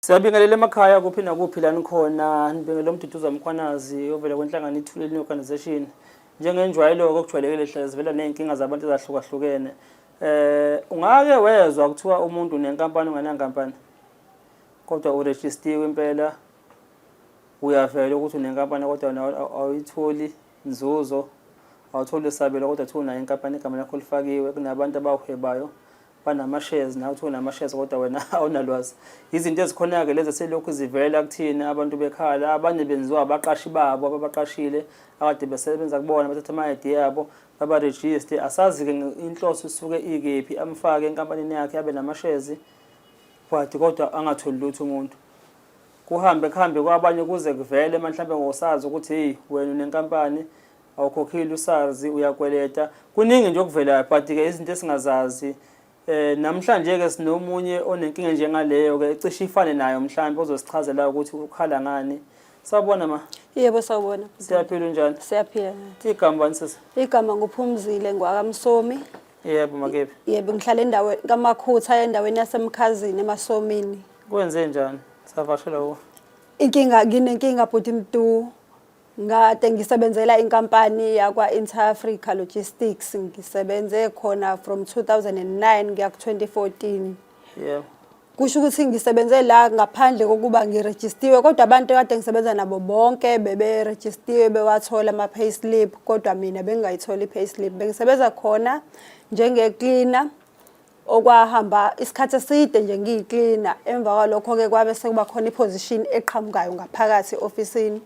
Siyabingelela emakhaya kuphi nakuphi la nikhona nibingelela uMduduza Mkhwanazi ovela kwenhlangano iThuleleni Organisation njengenjwayelo-ke okujwayelekile hlale zivela ney'nkinga zabantu ezahlukahlukene eh ungake wezwa kuthiwa umuntu unenkampani ungenankampani kodwa urejistiwe impela uyavela ukuthi unenkampani kodwa awuyitholi Nzuzo, Awutholi isabelo kodwa kuthiwa unayo inkampani igama lakho lifakiwe, kunabantu abawuhwebayo banama-shares nawe kuthiwa unama-shares kodwa wena awunalwazi. Yizinto ezikhona-ke lezi eselokhu zivela kuthina abantu bekhala, abanye benziwa abaqashi babo ababaqashile akade besebenza kubona bathatha ama-ID yabo babarejiste. Asazi-ke inhloso isuke ikephi, amfake enkampanini yakhe abe namashezi but kodwa angatholi lutho umuntu. kuhambe kuhambe kwabanye kuze kuvele mhlawumbe ngosazi ukuthi hey wena unenkampani awukhokhile usazi uyakweleta kuningi nje okuvelayo but ke izinto esingazazi eh namhlanje ke sinomunye onenkinga njengaleyo ke ecishe ifane nayo mhlawumbe ozosichazela ukuthi ukhala ngani Sawubona ma. Yebo sawubona. Siyaphila unjani? Siyaphila. Igama bani sisi? Igama nguphumzile ngwakamsomi. Yebo makephi? Yebo ngihlala endaweni kamakhutha endaweni yasemkhazini emasomini. Kwenze njani? Savashela wo. Inkinga nginenkinga bhuti Mdu. Ngade ngisebenzela inkampani yakwa Inter Africa Logistics ngisebenze khona from 2009 ngiya ku 2014. Yebo. Kusho ukuthi ngisebenze la ngaphandle kokuba ngirejistiwe kodwa abantu kade ngisebenza nabo bonke beberejistiwe bewathola ama payslip kodwa mina bengingayitholi payslip. Bengisebenza khona njenge cleaner okwahamba isikhathi eside nje ngiyiklina emva kwalokho-ke kwabe sekuba khona iposition eqhamukayo ngaphakathi e-ofisini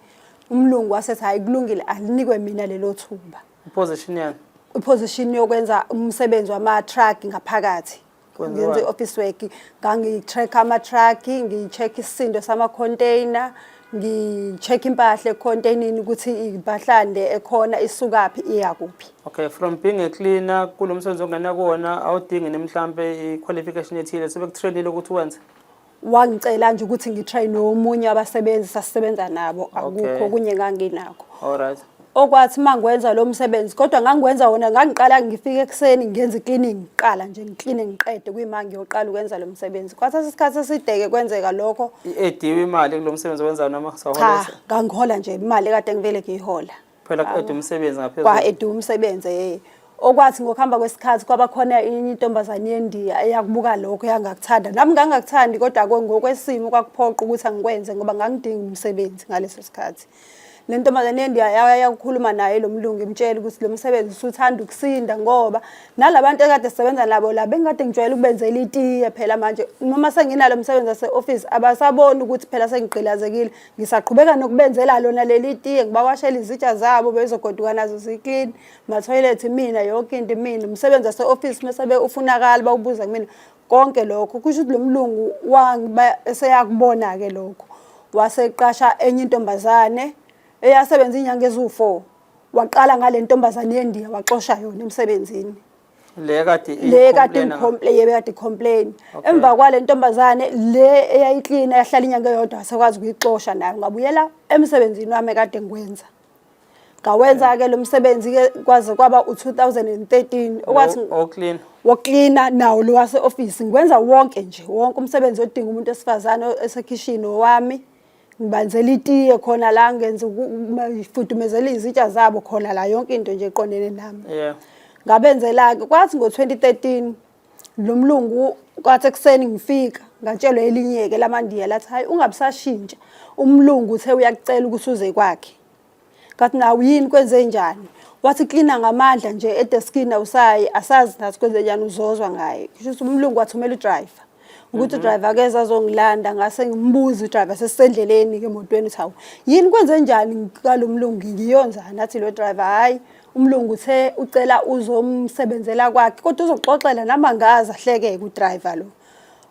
umlungu wasethi hhayi kulungile alinikwe mina lelo thuba iposition yani iposition yokwenza umsebenzi wama-truck ngaphakathi ngenza i-office work ngangi-track ama-truck ngi-check isisindo sama-container ngi-check impahla ekhontenini ukuthi impahlande ekhona isukaphi iya kuphi okay from being a cleaner kulo msebenzi ongena kuwona awudingi ni mhlampe i-qualification ethile sebekutrainile ukuthi wenze wangicela nje ukuthi ngitrain nomunye abasebenzi sasisebenza nabo akukho okunye enganginakho all right okwathi uma ngwenza lo msebenzi kodwa ngangiwenza wona ngangiqala ngifike ekuseni ngenza i-cleaning ngiqala nje ngicline ngiqede kuyima ngiyoqala ukwenza lo msebenzi kwathatha isikhathi esideke kwenzeka lokho i-ediwe imali kulo msebenzi owenzayo noma saholesa ngangihola nje imali kade ngivele ngiyihola phela ku-ede umsebenzi ngaphezulu kwa-ede umsebenzi yeye okwathi ngokuhamba kwesikhathi kwaba khona inye intombazane yendiya eyakubuka lokho yangakuthanda nami ngangakuthandi kodwa ngokwesimo kwakuphoqa ukuthi angikwenze ngoba ngangidinga umsebenzi ngaleso sikhathi le ntombazane endiyaye ukukhuluma naye lo mlungu imtshela ukuthi lo msebenzi usuthanda ukusinda ngoba nalabantu ekade sisebenza nabo la bengikade ngijwayele ukubenzela itiye phela manje noma senginalo msebenzi wase-ofisi abasaboni ukuthi phela sengigqilazekile ngisaqhubeka nokubenzela lona leli tiye ngibawashela izitsha zabo bezogoduka nazo ziklini mathoyilethi mina yonke into mina umsebenzi wase-ofisi mese bewufunakala bawubuza kumina konke lokho kusho ukuthi lo mlungu eseyakubona-ke lokho waseqasha enye intombazane eyasebenza inyanga eziwu-four waqala ngale ntombazane yendiya waxosha yona emsebenzini le kade le kade ngicomplain yebe kade complain emva kwale ntombazane le eyayiklina yahlala inyanga eyodwa sekwazi ukuyixosha nayo ngabuyela emsebenzini wami kade ngikwenza ngawenza-ke lo msebenzi-ke kwaze kwaba u-2013 okwathi woklina woklina nawo lo wase-ofisi ngikwenza wonke nje wonke umsebenzi odinga umuntu wesifazane esekhishini owami ngibanzela itiye khona la ngenza ngifudumezela izitsha zabo khona la yonke into nje eqondene nami yeah ngabenzela-ke kwathi ngo-2013 lo mlungu kwathi ekuseni ngifika ngatshelwa elinyeke lamandiya lathi hayi ungabusashintsha umlungu uthe uyakucela ukuthi uze kwakhe ngathi nawu yini kwenze njani wathi klina ngamandla nje edeskini awusayi asazi nathi kwenze njani uzozwa ngaye kusho ukuthi umlungu wathumela udriver ukuthi mhm. udriver keza azongilanda ngase ngimbuze udriver sesisendleleni-ke emotweni ukuthi hawu yini kwenze njani ngalo mlungu ngiyonzani athi lo driver hhayi umlungu uthe ucela uzomsebenzela kwakhe kodwa uzoxoxela namangazi ahleke-ke udriver lo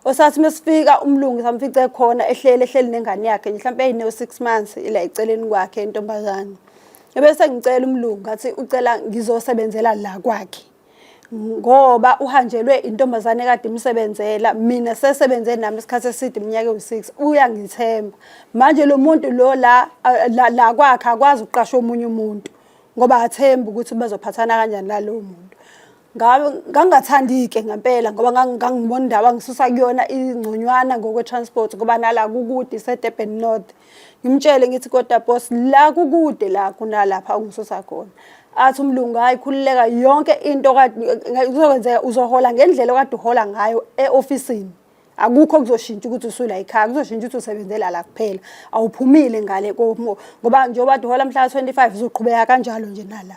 osathi uma sifika umlungu samfice khona ehleli ehleli nengane yakhe mhlawumpe eyine-six months ila eceleni kwakhe intombazane ebese ngicela umlungu ngathi ucela ngizosebenzela la kwakhe ngoba uhanjelwe intombazane kade imsebenzela mina sesebenze nami isikhathi eside iminyaka ewu-six uyangithemba manje lo muntu lo la la kwakhe akwazi ukuqasha omunye umuntu ngoba athembi ukuthi bazophathana kanjani lalowo muntu ngangingathandi-ke ngempela ngoba ngangibona indawo angisusa kuyona ingconywana ngokwe-transport ngoba nala kukude isedurban north ngimtshele ngithi kodwa bos la kukude la kunalapha ungisusa khona athi umlungu hayi khululeka yonke into uzokwenzeka uzohola ngendlela okade uhola ngayo e-ofisini akukho okuzoshintsha ukuthi usula ikhaya kuzoshintsha ukuthi usebenzela la kuphela awuphumile ngale komo ngoba njengoba dihola mhla 25 uzoqhubeka kanjalo nje nala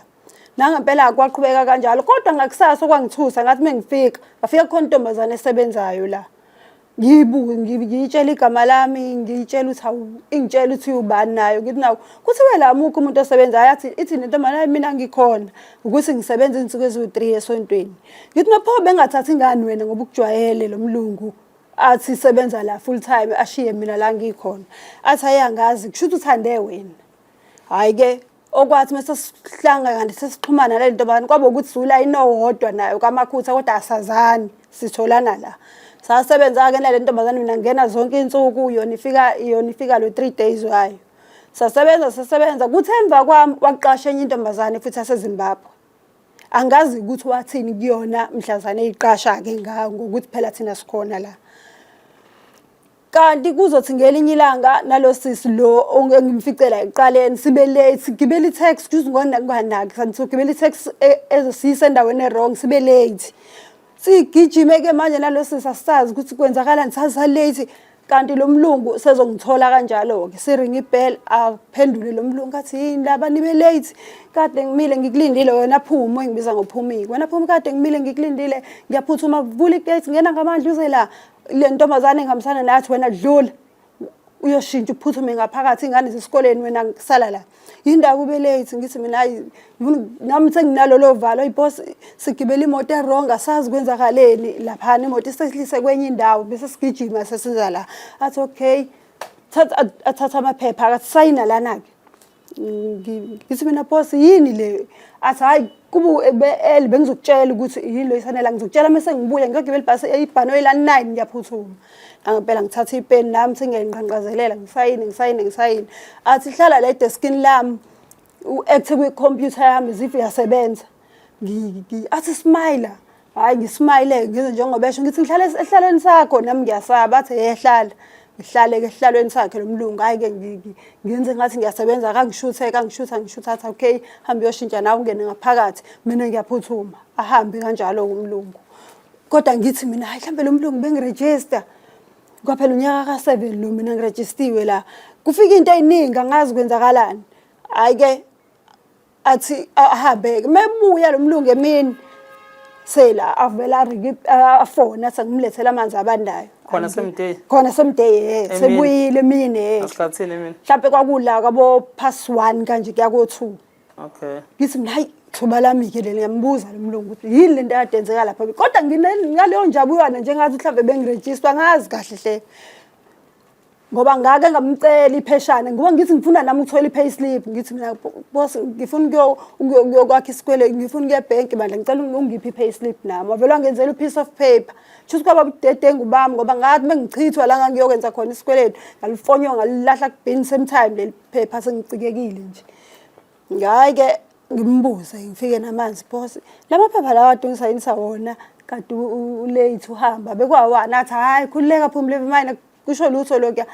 nangempela kwaqhubeka kanjalo kodwa ngakusasa okwangithusa ngathi mengifika ngafika kukhona intombazane esebenzayo la ngiyibuke ngiyitshela igama lami ngiyitshela ukuthi hawu ingitshela ukuthi ubani nayo ngithi nawo kuthiwe la mukho umuntu osebenzayo athi ithi nentombazane mina ngikhona ukuthi ngisebenza izinsuku eziwu-3 esontweni ngithi nopho bengathathi ingani wena ngoba ukujwayele lo mlungu athi sebenza la full time ashiye mina la ngikhona athi ayangazi kusho ukuthi uthande wena hhayi ke okwathi uma sesihlanga kanti sesixhumana nale nto bani kwaba ukuthi sula inowodwa nayo kamakhutha kodwa asazani sitholana la sasebenza-ke nale ntombazane mina ngena zonke iy'nsuku yona ifika yona ifika lo-three days wayo sasebenza sasebenza kuthe emva kwami waqasha enye intombazane futhi asezimbabwe angazi ukuthi wathini kuyona mhlazane eyiqasha-ke ngayo ngokuthi phela thina sikhona la kanti kuzothi ngelinye ilanga nalo sisi lo engimficela ekuqaleni sibe late sigibele i-tax kuze ngonganaki santhi sogibela i-tax e, ezosiyisa endaweni e-wrong sibe late Sigijime-ke manje nalo sisi asisazi ukuthi kwenzakalani sasalate kanti lo mlungu sezongithola kanjalo-ke siringa ibhel aphendule lo mlungu athi yini laba nibe late kade ngimile ngikulindile wena phuma engibiza ngophumiki wena phuma kade ngimile ngikulindile ngiyaphuthuma vula igate ngena ngamandla uze la le ntombazane engihambisana nathi wena dlula uyoshintsha uphuthume ngaphakathi ingane zisikoleni wena ngisala la yindawo ube late ngithi mina hayi nami senginalolo valo ibos sigibela imoto erong asazi kwenzakaleni laphana imoto isehlise kwenye indawo bese sigijima sesiza la athi okay athatha amaphepha akathi sayina lana-ke ngithi mina boss yini le athi hayi kubu eli bengizokutshela ukuthi yini lo isanela ngizokutshela mase ngibuya ngiyogibela ibhasi eyibhanoyi la 9 ngiyaphuthuma ngangempela ngithatha ipeni nami singayinqanqazelela ngisayini ngisayini ngisayini athi hlala la edeskini lami u-act kwi-computer yami zive yasebenza athi smile hayi ngismile ngenze njengoba esho ngithi ngihlale esihlalweni sakho nami ngiyasaba athi ehlala ngihlale ke esihlalweni sakhe lo mlungu hayi ke ngenze ngathi ngiyasebenza kangishuthe kangishutha ngishutha athi okay hambe uyoshintsha nawe ungene ngaphakathi mina ngiyaphuthuma ahambe kanjalo umlungu kodwa ngithi mina hayi mhlambe lo mlungu bengiregister kwaphela unyaka ka-seven lo mina ngirejistiwe la kufika into eyiningi angazi kwenzakalani hhayi-ke athi ahambe mebuya lomlungu emini sela avela afona athi ngimlethela amanzi abandayo khona semday khona semday eh sebuyile mina eh asikhathini mina mhlawumbe kwakula kwabo pass 1 kanje kuya ko 2 okay ngithi mina hayi thuba lami ke leli ngiyambuza lomlungu ukuthi yini lento yadenzeka lapha kodwa nginaleyo njabuyana njengathi mhlawumbe bengiregister ngazi kahle hle ngoba ngake ngamcela ipheshana ngoba ngithi ngifuna nami ukuthola i-pay slip ngithi mina boss ngifuna ukuyokwakha isikwele ngifuna ukuya ebhenki bandla ngicela ungiphi i-pay slip nami wavele wangenzela u-piece of paper shuthi kwaba budedengu bami ngoba ngathi uma ngichithwa la ngangiyokwenza khona isikweletu ngalifonywa ngalilahla kubhini same time leli phepha sengicikekile nje ngayi-ke ngimbuze ngifike namanzi boss lamaphepha lawa adungisa yini sawona kade ulate uhamba bekwawana athi hhayi khululeka phumule imina kusho lutho lokuya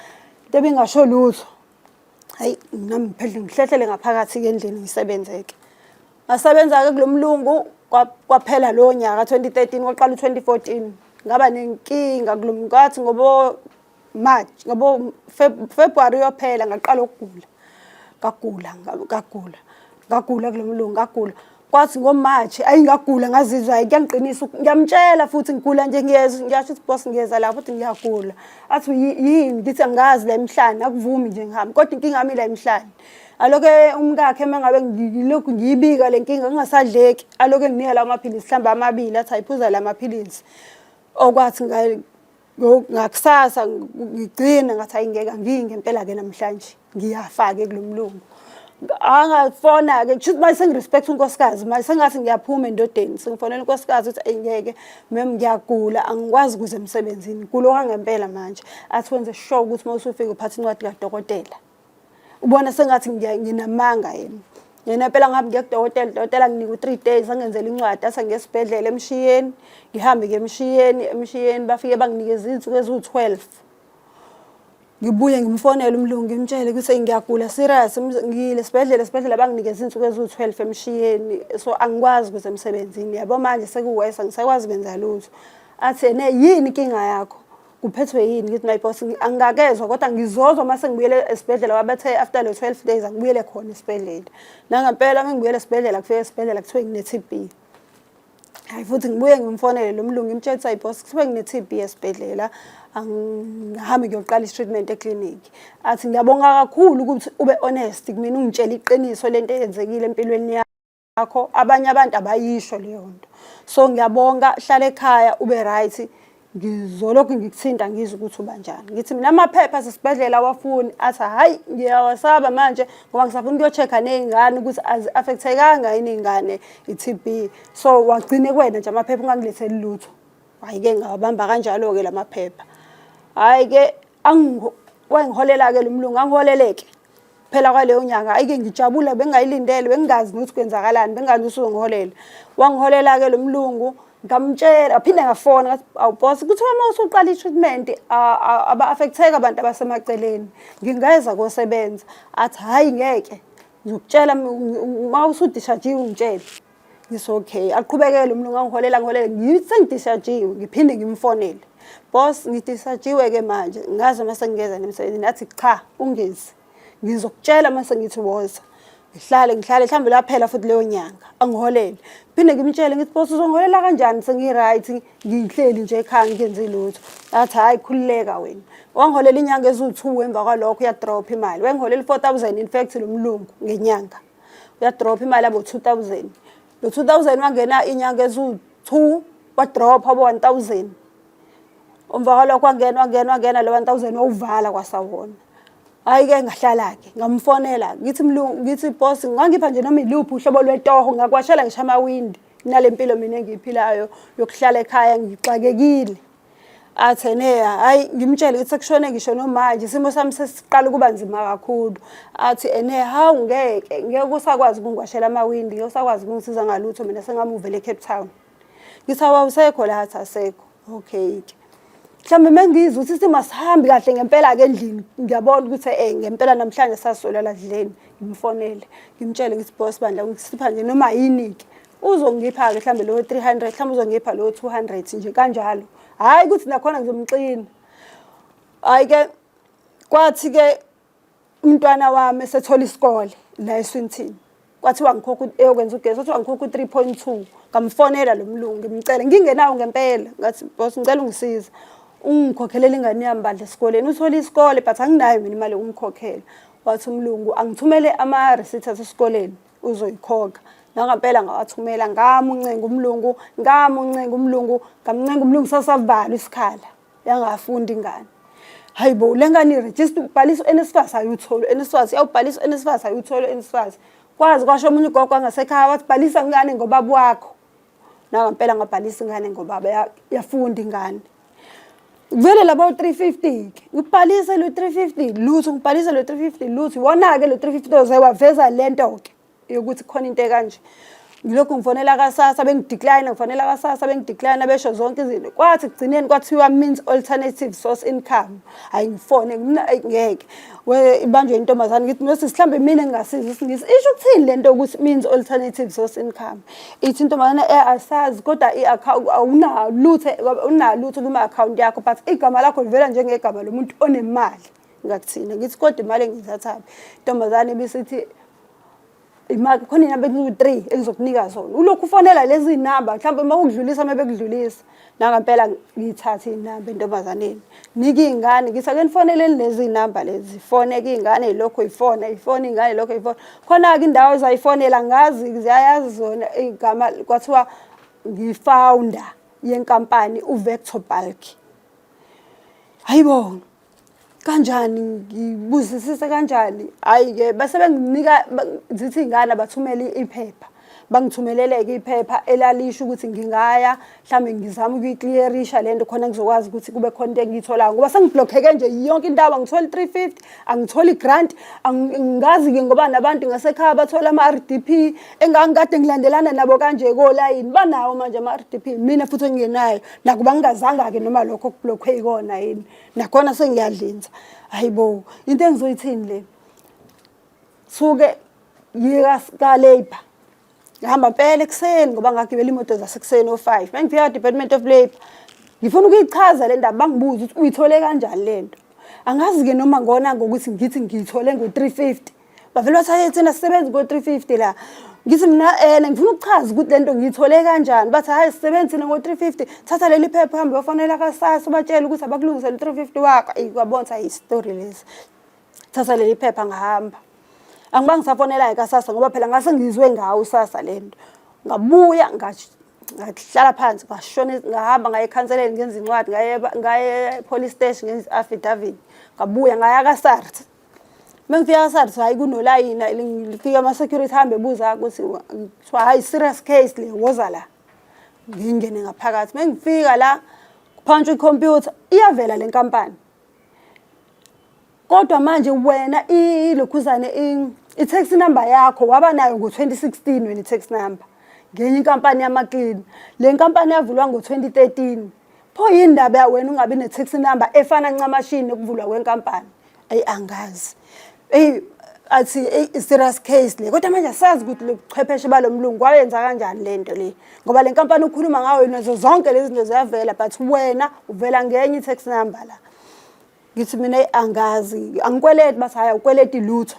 into ebingasho lutho hayi mina ngiphendle ngihlehlele ngaphakathi-ke endlini ngisebenzeke ngasebenza-ke kulo mlungu kwaphela lowo nyaka 2013 kwaqala u-2014 ngaba nenkinga kulo mkathi ngoba March ngoba February uyophela ngaqala ukugula ngagula ngagula ngagula kulomlungu ngagula kwathi ngoMarch ayi ngagula ngazizwa hayi kuyangiqinisa ngiyamtshela futhi ngigula nje ngiyezwa ngiyasho ukuthi boss ngiyeza la futhi ngiyagula athi yini ngithi angazi la emhlane akuvumi nje ngihamba kodwa inkinga yami la emhlane aloke umkakhe uma ngabe ngilokhu ngiyibika le nkinga kungasadleki aloke nginika la maphilisi mhlawumbe amabili athi ayiphuza la maphilisi okwathi ngakusasa ngigcina ngathi hayi ngeke angiyi ngempela-ke namhlanje ngiyafake kulo mlungu angafona-ke kusho ukuthi manje sengirespect unkosikazi manje sengathi ngiyaphuma endodeni sengifonela unkosikazi ukuthi ayi ngeke mem ngiyagula angikwazi ukuze emsebenzini kulo kwangempela manje athi wenze sure ukuthi uma usufika uphatha incwadi kadokotela ubona sengathi nginamanga yena yena phela ngabe ngiya kudokotela udokotela nginika u-three days angenzela incwadi ase ngesibhedlela emshiyeni ngihambe ke emshiyeni emshiyeni bafike banginikeza iy'nsuku eziwu-twelve ngibuye ngimfonele umlungu ngimtshele ukuthi ngiyagula serious ngiyile sibhedlela sibhedlela banginikeza iy'nsuku eziwu-twelve emshiyeni so angikwazi ukuze emsebenzini yabo manje sekuwesa ngisakwazi kwenza lutho athi ene yini inkinga yakho kuphethwe yini ngithi my boss angakezwa kodwa ngizozwa uma sengibuyele esibhedlela wabathe after le 12 days angibuyele khona esibhedlela nangempela uma ngibuyele esibhedlela kufike esibhedlela kuthiwe ngine-tb hayi futhi ngibuye ngimfonele lo mlungu ngimtshela ukuthi ayibos kuthiwe ngine-tb esibhedlela angihambe kuyoqala i-treatment eklinikhi athi ngiyabonga kakhulu ukuthi ube honest kumina ungitshela iqiniso lento eyenzekile empilweni yami yakho abanye abantu abayisho leyo nto so ngiyabonga hlala ekhaya ube right ngizolokhu ngikuthinta ngizwe ukuthi uba njani ngithi mina amaphepha asesibhedlela awafuni athi hhayi ngiyawasaba manje ngoba ngisafuna ukuyocheck-a ney'ngane ukuthi azi-affecthekanga yini iy'ngane i-tb so wagcine kwena nje amaphepha ungangiletheli lutho hhayi-ke ngawabamba kanjalo-ke la maphepha hhayi-ke wangiholela-ke lo mlungu angiholeleke phela kwaleyo nyanga ayike ngijabula bengayilindele bengingazi ukuthi kwenzakalani bengazi ukuthi uzongiholela wangiholela-ke lo mlungu ngamtshela ngaphinde ngafona ngathi awubos kuthiwa uma usuqala i-treatment aba-affectheka abantu abasemaceleni ngingeza kosebenza athi hhayi ngeke ngizokutshela uma usudishajiwe ungitshele It's okay. Aqhubekele umuntu ngangiholela ngiholela ngithi sengidishajiwe ngiphinde ngimfonele. Boss ngidishajiwe ke manje ngazi uma sengingeza nemsebenzini nathi cha ungezi. Ngizokutshela uma sengithi woza. Ngihlale ngihlale mhlawumbe laphela futhi leyo nyanga angiholele. Phinde ngimtshele ngithi boss uzongiholela kanjani sengi right ngihleli nje ekhaya ngenzi lutho. Athi hayi khululeka wena. Wangiholela inyanga eziwu2 emva kwalokho ya drop imali. Wengiholela 4000 in fact lo mlungu ngenyanga. uyadrop imali abo 2000 lo 2000 wangena inyanga ezu2 wadrop abo 1000 umva kwalokho kwangena wangena wangena lo 1000 wawuvala kwasawona hayi ke ngahlala ke ngamfonela ngithi mlungu ngithi boss ngangipha nje noma iluphi uhlobo lwetoho ngakwashela ngisha amawindi nalempilo mina engiyiphilayo yokuhlala ekhaya ngixakekile Atheneya hayi ngimtshele ukuthi sekushone ngisho nomanje isimo sami sesiqala ukuba nzima kakhulu athi ene hawu ngeke ngeke usakwazi ukungwashela amawindi ngeke usakwazi ukungisiza ngalutho mina sengamuvele eCape Town ngithi awusekho la athi asekho okay ke mhlawumbe mengiyiza ukuthi isimo asihambi kahle ngempela-ke endlini ngiyabona ukuthi um ngempela namhlanje saswela ladleni ngimfonele ngimtshele ngithi bos bandla ngisipha nje noma yini-ke uzongipha-ke mhlawumbe lowo three hundred mhlawumbe uzongipha lowo two hundred nje kanjalo hhayi ukuthi nakhona ngizomxina hhayi-ke kwathi-ke umntwana wami esethola isikole la eswinthini kwathiwa ngikhokha eyokwenza ugesi kwathiwa ngikhokha u-three point two ngamfonela lo mlungu ngimcele ngingenawo ngempela ngathi bos ngicela ungisiza ungikhokhelele ingane yami bandla esikoleni uthole isikole but anginayo mina imali yokumkhokhela wathi umlungu angithumele ama-receipt asesikoleni uzoyikhokha nangampela ngawathumela ngamuncenga umlungu ngamuncenga umlungu ngamncenga umlungu sasavala isikhala yangafundi ingane hayi bo le ngane irejista ubhalisa u-nsfas ayutholo u-nsfas yawubhalisa u-nsfas ayutholo u-nsfas kwazi kwasho omunye ugogo angasekhaya wathi bhalisa ngane ngobaba wakho nangampela ngabhalisa ingane ngoba yafunda ingane kuvele labo 350 ke ngibhalise lo 350 lutho ngibhalise lo 350 lutho iwona ke lo 350 oze waveza lento ke yokuthi khona into ekanje ngilokhu ngifonela kasasa bengidecline ngifonela kasasa bengidecline besho zonke izinto kwathi kugcineni kwathiwa means alternative source income hayi ngifone ngeke ibanjwe intombazane ngithi nosisi mhlawumbe mina ngingasiza isingisi isho ukuthini lento ukuthi means alternative source income ithi intombazane eh, asazi kodwa awunalutho unalutho kuma-akhawunti yakho but igama lakho livela njengegama lomuntu onemali ngakuthina ngithi kodwa imali engiyithathaphi intombazane bisithi imali khona inamba eziwu-three engizokunika zona ulokhu ufonela lezi namba mhlawumbe uma ukudlulisa uma bekudlulisa nangampela ngithathe iy'namba entombazaneni nike iy'ngane ngithi ake nifoneleni lezi iy'namba lezi fone ke iy'ngane ilokhu ifona ifona iy'ngane ilokhu ifona khona-ke indawo ezayifonela ngazi ziyayazi zona igama kwathiwa ngifounder yenkampani uvector bulk hayibo kanjani ngibuzisise kanjani hhayi-ke base benginika zithi iy'ngane abathumele iphepha bangithumeleleke iphepha elalisho ukuthi ngingaya mhlawumbe ngizama ukuyikliyerisha le nto khona ngizokwazi ukuthi kube khona into engiyitholayo ngoba sengiblokheke nje yonke indawo angitholi three fifty angitholi i-grant ngazi-ke ngoba nabantu ngasekhaya bathola ama-r d p engangikade ngilandelana nabo kanje kolayini banawo manje ama-r d p mina futhi engingenayo nakuba ngingazanga-ke noma lokho kublokhwe yikona yini nakhona sengiyadlinza hayi bo into engizoyithini le suke yika ka-labour ngihamba mpela ekuseni ngoba ngagibela imoto zasekuseni o-five uma ngifika ka-department of labour ngifuna ukuyichaza le ndaba bangibuze ukuthi uyithole kanjani le nto angazi-ke noma ngona ngokuthi ngithi ngiyithole ngo-three fifty bavele bathathe thina sisebenzi ngo-350 la ngithi mina um ngifuna ukuchaza ukuthi le nto ngiyithole kanjani bathi hhayi sisebenzi thina ngo-350 thatha leli phepha hambe bafanele kasasa ubatshele ukuthi abakulungisele u-350 wakho eyi kwabona sayi isitori lesi thatha leli phepha ngahamba angiba ngisafonelayo kasasa ngoba phela ngase ngizwe ngawo usasa le nto ngabuya ngahlala phansi ngashona ngahamba ngaye ekhanseleni ngenza incwadi ngaye ngaye police station ngenza affidavit ngabuya ngaya ka SARS mengifika SARS hayi kunolayina lifika ama security hambe buza ukuthi kuthiwa hayi serious case le woza la ngingene ngaphakathi mengifika la kuphantshwa icomputer iyavela le nkampani kodwa manje wena ilokhuzane i-tax number yakho waba nayo ngo-2016 wena i-tax number ngenye inkampani yamaklini le nkampani yavulwa ngo-2013 pho yini ndaba wena ungabi ne-tax number efana ncamashini nokuvulwa kwenkampani eyi angazi eyi athi eyi serious case le kodwa manje asazi ukuthi lo buchwepheshe balo mlungu wayenza kanjani le nto le ngoba le nkampani ukhuluma ngayo nazo zonke lezi zinto ziyavela but wena uvela ngenye i-tax number la ngithi mina eyi angazi angikweleti bathi hhayi awukweleti lutho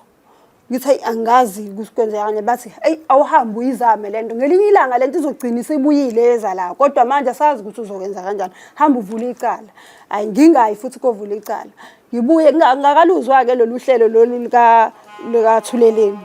ngithi hayi angazi kwenzekani bathi eyi awuhambe uyizame le nto ngelinye ilanga le nto izogcina isibuyile eza la kodwa manje asazi ukuthi uzokwenza kanjani hambe uvule icala hayi ngingayi futhi kovula icala ngibuye ngakaluzwa-ke lolu hlelo lolu likathuleleni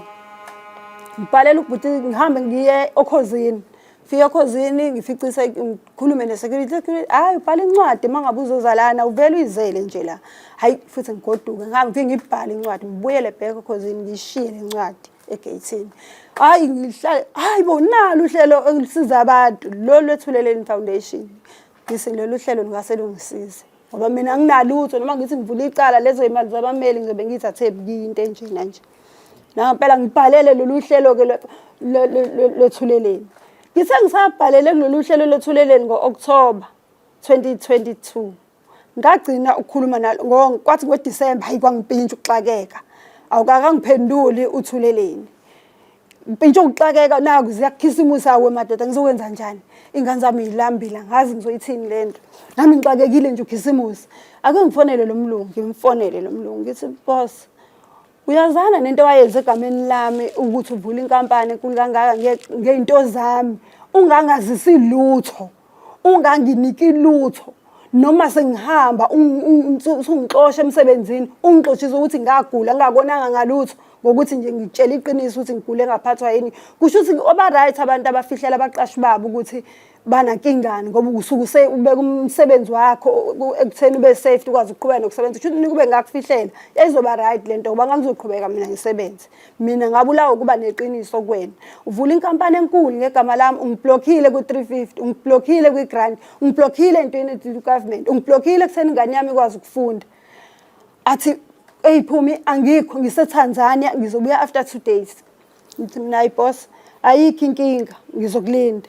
ngibhalela ubhuti ngihambe ngiye okhozini fika khozini ngificise ngikhulume ne-security hayi ubhala incwadi uma ngabe uzozalana uvele uyizele nje la hayi futhi ngigoduke ngangifike ngibhale incwadi ngibuyele bheke khozini ngiyishiye le ncwadi egeyithini hayi ngihlale hayi bo nalo uhlelo engisiza abantu lolu lwethuleleni foundation ngise lolu hlelo lungase lungisize ngoba mina nginalutho noma ngithi ngivula icala lezo imali zabameli ngizobe ngiyithathe ebukiyi into enjena nje nangampela ngibhalele lolu hlelo-ke lwethuleleni ngithe ngisabhalele kulolu hlelo lwethuleleni ngo-okthoba 2022 ngagcina ukukhuluma nalo kwathi ngodisemba hayi kwangipintsha ukuxakeka awukakangiphenduli uthuleleni Mpintsha ukuxakeka naku ziyakhisimusa awe madoda ngizokwenza njani ingane zami yilambile ngazi ngizoyithini le nto nami ngixakekile nje ukhisimusi ake ngifonele lo mlungu ngimfonele lo mlungu ngithi boss uyazana nento wayenze egameni lami ukuthi uvula inkampani enkulu kangaka ngey'nto zami ungangazisi lutho unganginiki lutho noma sengihamba usungixosha emsebenzini ungixoshisa ukuthi ngagula ngingakonanga ngalutho ngokuthi nje ngitshela iqiniso ukuthi ngigule ngaphathwa yini kusho ukuthi oba-right abantu abafihlela abaqashi babo ukuthi banankingani ngoba usuke usebeka umsebenzi wakho ekutheni ube safe ukwazi ukuqhubeka nokusebenza kusho ukuthi nikube ngakufihlela yayizoba-right le nto ngoba ngangizoqhubeka mina ngisebenze mina ngabulawa ukuba neqiniso kwena uvula inkampani enkulu ngegama lami ungiblokhile ku-350 ungiblokhile kwi-grant ungiblokhile entweni government ungiblokhile kutheni ingane yami ikwazi ukufunda athi eyi phumi angikho ngisetanzania ngizobuya after two days ngithi mina ayi boss ayikho inkinga ngizokulinda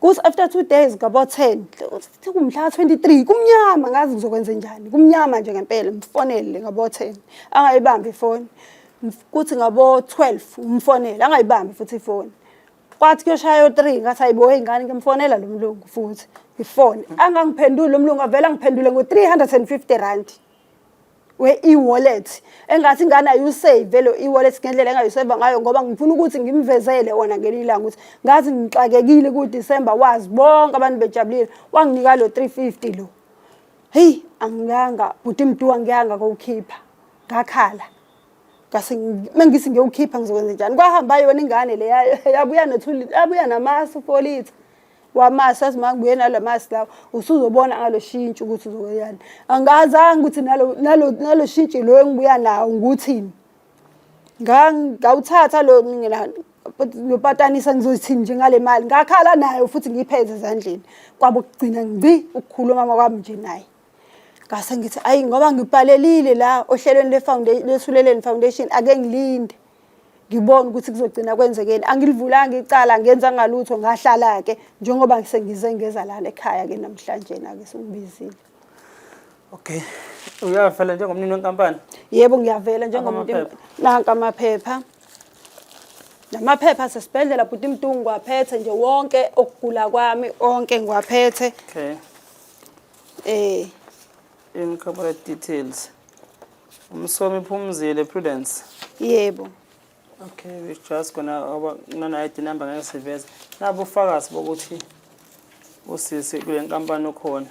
kuthi after two days ngabo ten kumhla ka-twenty three kumnyama ngazi ngizokwenze njani kumnyama nje ngempela mfonele ngabo ten angayibambi ifoni kuthi ngabo twelve umfonele angayibambi futhi ifoni kwathi kuyoshaya yo-three ngathi ayibo ey'ngane ngimfonela lo mlungu futhi ngifone angangiphenduli lo mlungu avele angiphendule ngo-three hundred and fifty rand we-e-wallet engathi ingane ayusave lo e-wallet ngendlela engayuseva ngayo ngoba ngifuna ukuthi ngimvezele wona ngelinye ilanga ukuthi ngazi ngixakekile kudisemba wazi bonke abantu bejabulile wanginika lo 350 lo heyi angiyanga bhuti mduwa ngiyanga kowukhipha ngakhala ngase mengithi ngiyowukhipha ngizokwenza njani kwahamba yona ingane le yabuya nothuli yabuya namasi ufolitha wamasi azi mangibuye nala masi lawo usuzobona ngalo shintshi ukuthi uzoyani angazange ukuthi nalo nalo nalo shintshi lo engibuya nawo nguthini ngawuthatha lo mina lopatanisa ngizothini nje ngale mali ngakhala nayo futhi ngiyipheze ezandleni kwabo kugcina ngci ukukhuluma mama kwami nje naye ngase ngithi ayi ngoba ngibhalelile la ohlelweni le-foundation lesuleleni foundation ake ngilinde ngibone ukuthi kuzogcina kwenzekeni angilivulanga icala ngenza ngalutho ngahlala-ke njengoba sengize ngeza lana ekhaya-ke namhlanje-na-ke sengibizile okay uyavela njengomnini wenkampani yebo ngiyavela njengomuntu nanka amaphepha namaphepha asesibhedlela bhuti mtungu ngiwaphethe nje wonke okugula kwami onke ngiwaphethe okay eh In corporate details. Umsomi Phumzile Prudence. Yebo. Okay, we just gonna oba nana ID number ngeke siveze. Nabo ufakazi bokuthi usisi kule nkampani okhona.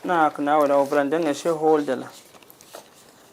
Nakho nawe la ubrande nge shareholder la.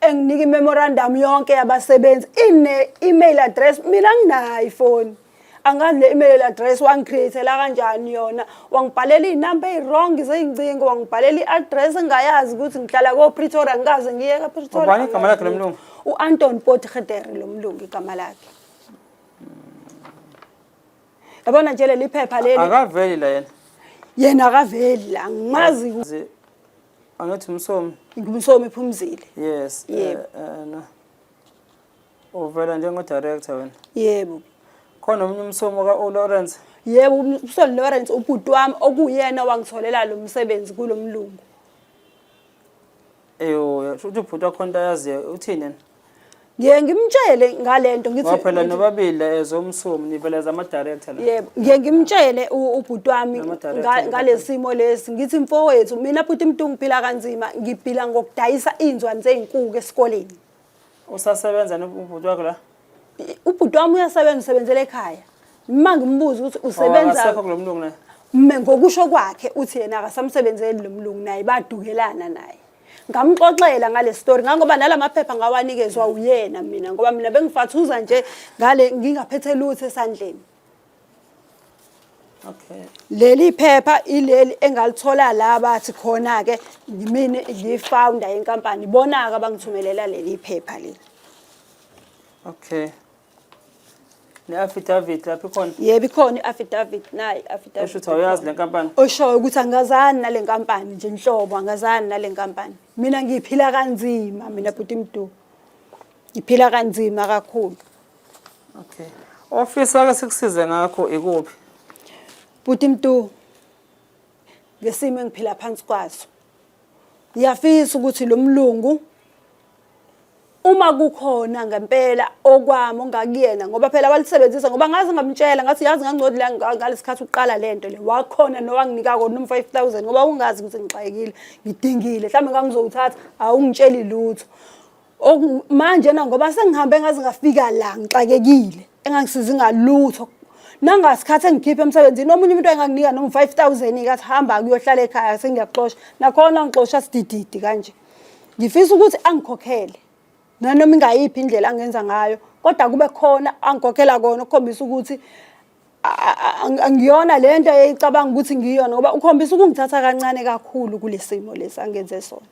enginika imemorandum yonke yabasebenzi ine email address mina nginayo ifoni angazi le email address wangicreatela kanjani yona wangibhalela izinamba eziwrong zeyincingo wangibhalela iaddress engayazi ukuthi ngihlala ko Pretoria ngikaze ngiye ka Pretoria ubani igama lakhe lomlungu uAnton Potgieter lomlungu igama lakhe yabona nje leli phepha leli akaveli la yena yena akaveli la ngimazi Angithi umsomi. Ngumsomi phumzile. Yes. Eh, Yebo. Eh, eh, no. Uvela njengo director wena. Yebo. Khona omunye umsomi ka O Lawrence. Yebo umsoli Lawrence ubhuti wami okuyena wangitholela lo msebenzi kulomlungu. Eyo, shuthi ubhuti wakho into ayaziyo uthini yena? ngiye ngimtshele ngalento ngithi ngoba phela nobabili as umsomi nivele as ama director la yebo ngiye ngimtshele u- ubhuti wami Nama director nga- nje ngalesimo lesi ngithi mfowethu mina bhuti mntu ngiphila kanzima ngiphila ngokudayisa inzwani zeinkuku esikoleni usasebenza nobhuti wakho la I- ubhuti wami uyasebenza usebenzela ekhaya uma ngimbuza ukuthi Ngoba usebenza akasekho kulo mlungu naye mina ngokusho kwakhe uthi yena akasamsebenzeli lo mlungu naye badukelana naye ngamxoxela ngale story ngangoba nalamaphepha ngawanikezwa uyena mina ngoba mina bengifathuza nje ngale ngingaphethe lutho esandleni Okay. Leli phepha ileli engalithola la bathi khona ke mina ngifounder yenkampani bona ke bangithumelela leli phepha leli. Okay. ne-affidavit lapho ikhona yebo ikhona i-affidavit nayi i-affidavit esho ukuthi awuyazi le nkampani oshoyo ukuthi angazani nale nkampani nje nhlobo angazani nale nkampani mina ngiphila kanzima mina bhuti mdu ngiphila kanzima kakhulu okay ofisa ake sikusize ngakho ikuphi bhuti mdu ngesimo engiphila phansi kwaso ngiyafisa ukuthi lo mlungu uma kukhona ngempela okwami ongakuyena ngoba phela walisebenzisa ngoba ngaze ngamtshela ngathi yazi ngangcodi la ngalesikhathi uqala lento le wakhona nowanginika kona um 5000 ngoba ungazi ukuthi ngixakekile ngidingile mhlawumbe ngangizowuthatha awungitsheli lutho manje na ngoba sengihambe ngaze ngafika la ngixakekile engangisizi ngalutho nangasikhathi engikhiphe emsebenzini omunye umuntu enganginika noma 5000 ikathi hamba kuyohlala ekhaya sengiyaxosha nakhona ngixosha sidididi kanje ngifisa ukuthi angikhokhele nanoma ingayiphi indlela angenza ngayo kodwa kube khona angikhokhela kona ukukhombisa ukuthi angiyona le nto eyicabanga ukuthi ngiyona ngoba ukhombisa ukungithatha kancane kakhulu kule simo lesi angenze sona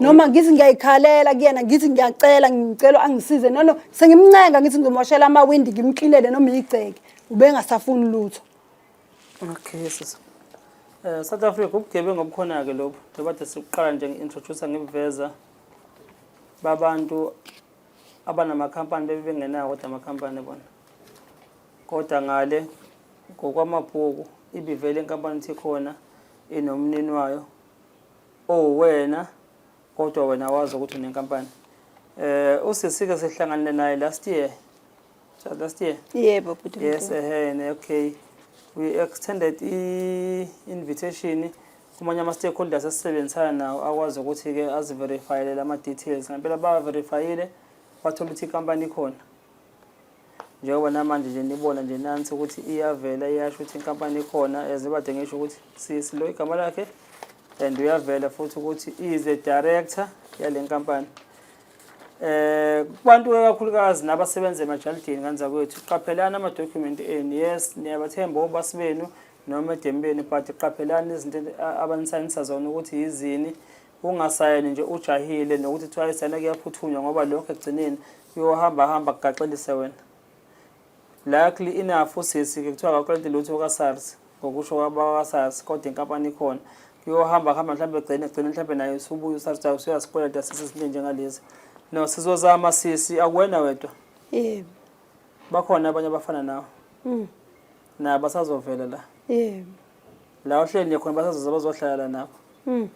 noma ngithi ngiyayikhalela kuyena ngithi ngiyacela ngicela angisize no no sengimncenga ngithi ngimoshela amawindi ngimklinele noma igceke ubengasafuni lutho Okay, sisi. Eh South Africa ubugebengu obukhona ke lobu. Njengoba de sikuqala nje ngi-introduce ngibuveza babantu abanamakhampani bebe bengenawo kodwa amakhampani bona. Kodwa ngale ngokwamabhuku ibivele inkampani ithi khona inomnini wayo owena kodwa wena wazi ukuthi unenkampani. Eh usisi ke sihlanganile naye last year Just last year? Yebo bhuti. Yes, ehene, okay. We extended i-invitation kumanye ama-stakeholders asisebenzisana nawo akwazi ukuthi-ke aziverifayele la ma-details ngempela bawaverifayile wathola ukuthi ikampani ikhona njengoba namanje nje nibona nje nansi ukuthi iyavela iyasho ukuthi inkampani ikhona as ibade ngisho ukuthi sisilo igama lakhe and uyavela futhi ukuthi is a director yale nkampani eh kubantu kakhulukazi nabasebenza emajalidini kanza kwethu qaphelani ama document enu yes niyabathemba obasi benu noma edembeni but qaphelani izinto abanisayinisa zona ukuthi yizini ungasayeni nje ujahile nokuthi kuthiwa isayina kuyaphuthunywa ngoba lokho ekugcineni kuyohamba hamba kugaxelise wena Likely enough usisi ke kuthiwa akaklenti lutho kaSARS ngokusho kwabakwaSARS kodwa inkampani ikhona kuyohamba hamba mhlawumbe egcine egcine mhlawumbe naye usubuya uSARS ukuthi usuyasikweleta sisi izinto njengalezi no sizozama sisi akuwena wedwa yebo bakhona abanye abafana nawe mm. na basazovela la yebo la ohleli khona basazoza bazohlala la nabo mm.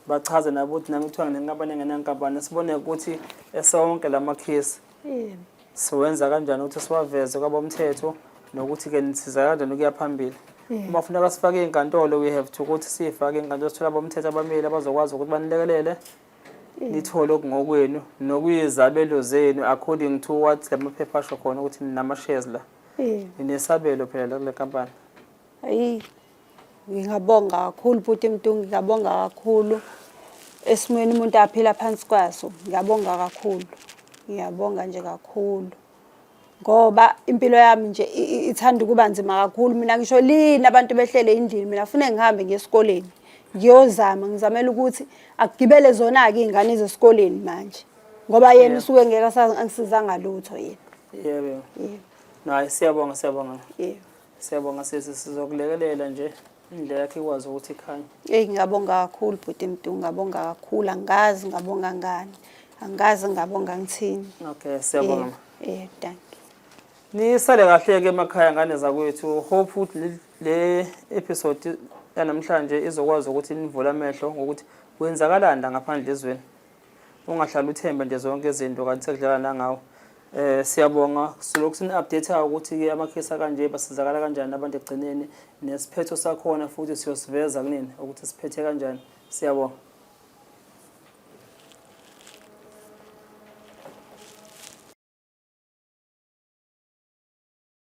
bachaze nabo ukuthi nami kuthiwa nginenkampani engenankampani sibone ukuthi esonke la makhesi siwenza kanjani ukuthi siwaveze kwabomthetho nokuthi-ke nisiza kanjani ukuya phambili uma funeka sifake iy'nkantolo we have to ukuthi siyifake iy'nkantolo sithola abomthetho abamile abazokwazi ukuthi banilekelele nithole okungokwenu nokuyizabelo zenu according to what la maphepha asho khona ukuthi ninama-shares la ninesabelo phela la kule kampani Ngingabonga kakhulu bhuti Mtungi, ngiyabonga kakhulu esimweni umuntu aphila phansi kwaso. Ngiyabonga kakhulu, ngiyabonga nje kakhulu ngoba impilo yami nje ithanda ukuba nzima kakhulu. Mina ngisho lini abantu behlele endlini, mina fune ngihambe ngiye esikoleni ngiyozama, ngizamela ukuthi akugibele zona-ke iy'ngane zesikoleni manje ngoba yena usuke ngeke angisizanga lutho yena. Yebo, yebo. Naye siyabonga, siyabonga. Yebo. Siyabonga sisi sizokulekelela nje indlela yakhe ikwazi ukuthi ikhanye. Eyi ngiyabonga kakhulu bhuti Mdu, ngiyabonga kakhulu angazi ngabonga ngani. Angazi ngabonga ngithini. Okay, siyabonga. ma. Eh, thank you. Nisale kahle ke emakhaya ngane zakwethu. Hope ukuthi le- le episode yanamhlanje izokwazi ukuthi nivule amehlo ngokuthi kwenzakalani la ngaphandle ezweni. ungahlala uthembe nje zonke izinto kanti sekudlala nangawo eh siyabonga silokhu sini update ukuthi ke amakhesi kanje basizakala kanjani abantu egcineni nesiphetho sakhona futhi siyosiveza kunini ukuthi siphethe kanjani siyabonga